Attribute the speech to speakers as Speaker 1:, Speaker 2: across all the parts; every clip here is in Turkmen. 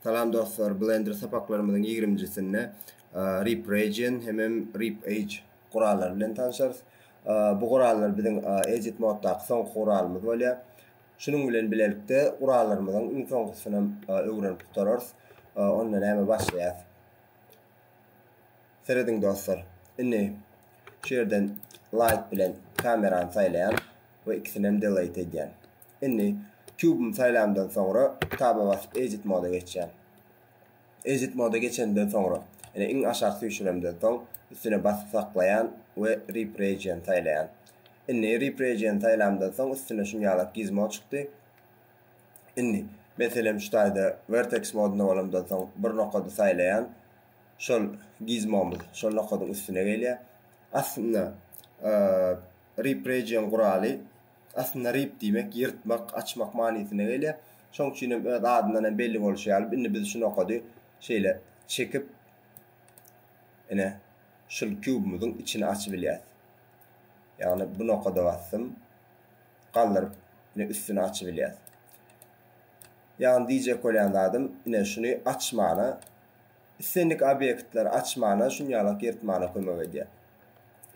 Speaker 1: Salam dostlar, Blender sapaklarymyzyň ýigriminjisinde Rip Region hemem Rip Edge gurallary bilen tanşarys. Bu gurallar biziň Edit moddaky soňky guralymyz bolýar. Şunuň bilen bilelikde gurallarymyzyň iň soňkusynam öwrenip gutararys. Onda näme başlaýas. Serediň dostlar. Indi şu ýerden light bilen kamerany saýlaýan we ikisinem delete edýän. Indi kubym saýlamdan soňra taba basyp edit moda geçýän. Edit moda geçenden soňra ene iň aşak süýşüremden soň üstüne basyp saklaýan we rip region saýlaýan. Indi rip region saýlamdan soň üstüne şuny ýalak gizmo çykdy. Indi meselem şu taýda vertex modunda bolamdan soň bir nokady saýlaýan şol gizmomyz şol nokadyň üstüne gelýär. Aslynda rip region guraly aslynda rip diýmek ýyrtmak, açmak manysyna gelýär. Şonuň üçin hem öz adyndan hem belli bolşy ýaly indi biz şu nokady şeýle çekip ine şul kubymyzyň içini açyp bilýäs. Ýagny bu nokada basdym. Galdyryp ine üstüni açyp bilýäs. Ýagny diýjek bolýan zadym ine şuny açmana islendik obýektleri açmana şun ýalak ýyrtmana kömek edýär.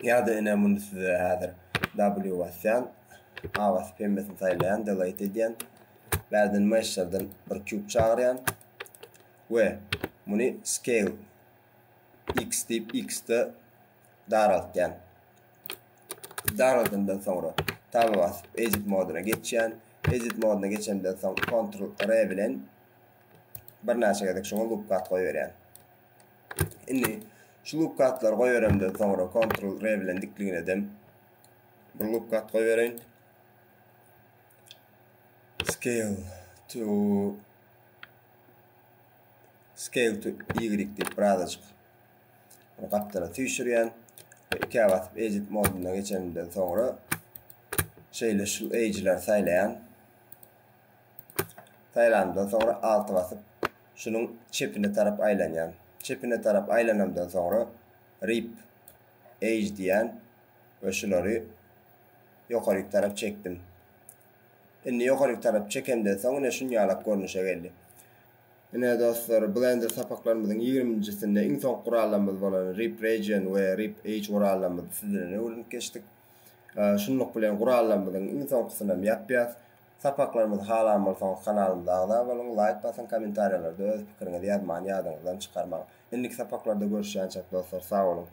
Speaker 1: Ýa-da ine muny size häzir W basýan, A basyp hemmesini saýlaýan, delete edýän. Bärden mesherden bir kýub çagyrýan we muny scale X diýip X-de daraltýan. Daraldandan soňra taba basyp edit moduna geçýän. Edit moduna geçenden soň Ctrl R bilen Birnäçe gezek şuňa loop kat goýberýän. Indi şu loop katlary goýberemden soňra Ctrl R bilen dikligini edem. Bir loop kat goýbereýin. Scale to Scale to Y diýip birazajyk gapdala süýşürýän. Ikä basyp edit moduna geçenimden soňra şeýle şu edge'leri saýlaýan. Saýlanymdan soňra Alt basyp, şunuň çepine tarap aýlanýan. Çepine tarap aýlanamdan soňra Rip, Age diýýän we şulary ýokaryk tarap çekdim. Indi ýokaryk tarap çekemden soň ine şunýalak görnüşe geldi. Ine dostlar, Blender sapaklarymyzyň ýigriminjisinde iň soňky gurallarymyz bolan Rip Region we Rip Age gurallarymyzy siz bilen öwrenip geçdik. Şunluk bilen gurallarymyzyň iň soňkysynam ýapýas. Sapaklarymyzy halan bolsaňyz kanalymyza agza boluň, laýk basyň, kommentariýalarda öz pikiriňizi ýazmany ýadyňyzdan çykarmaň. Indiki sapaklarda görüşýänçäk dostlar, sag boluň!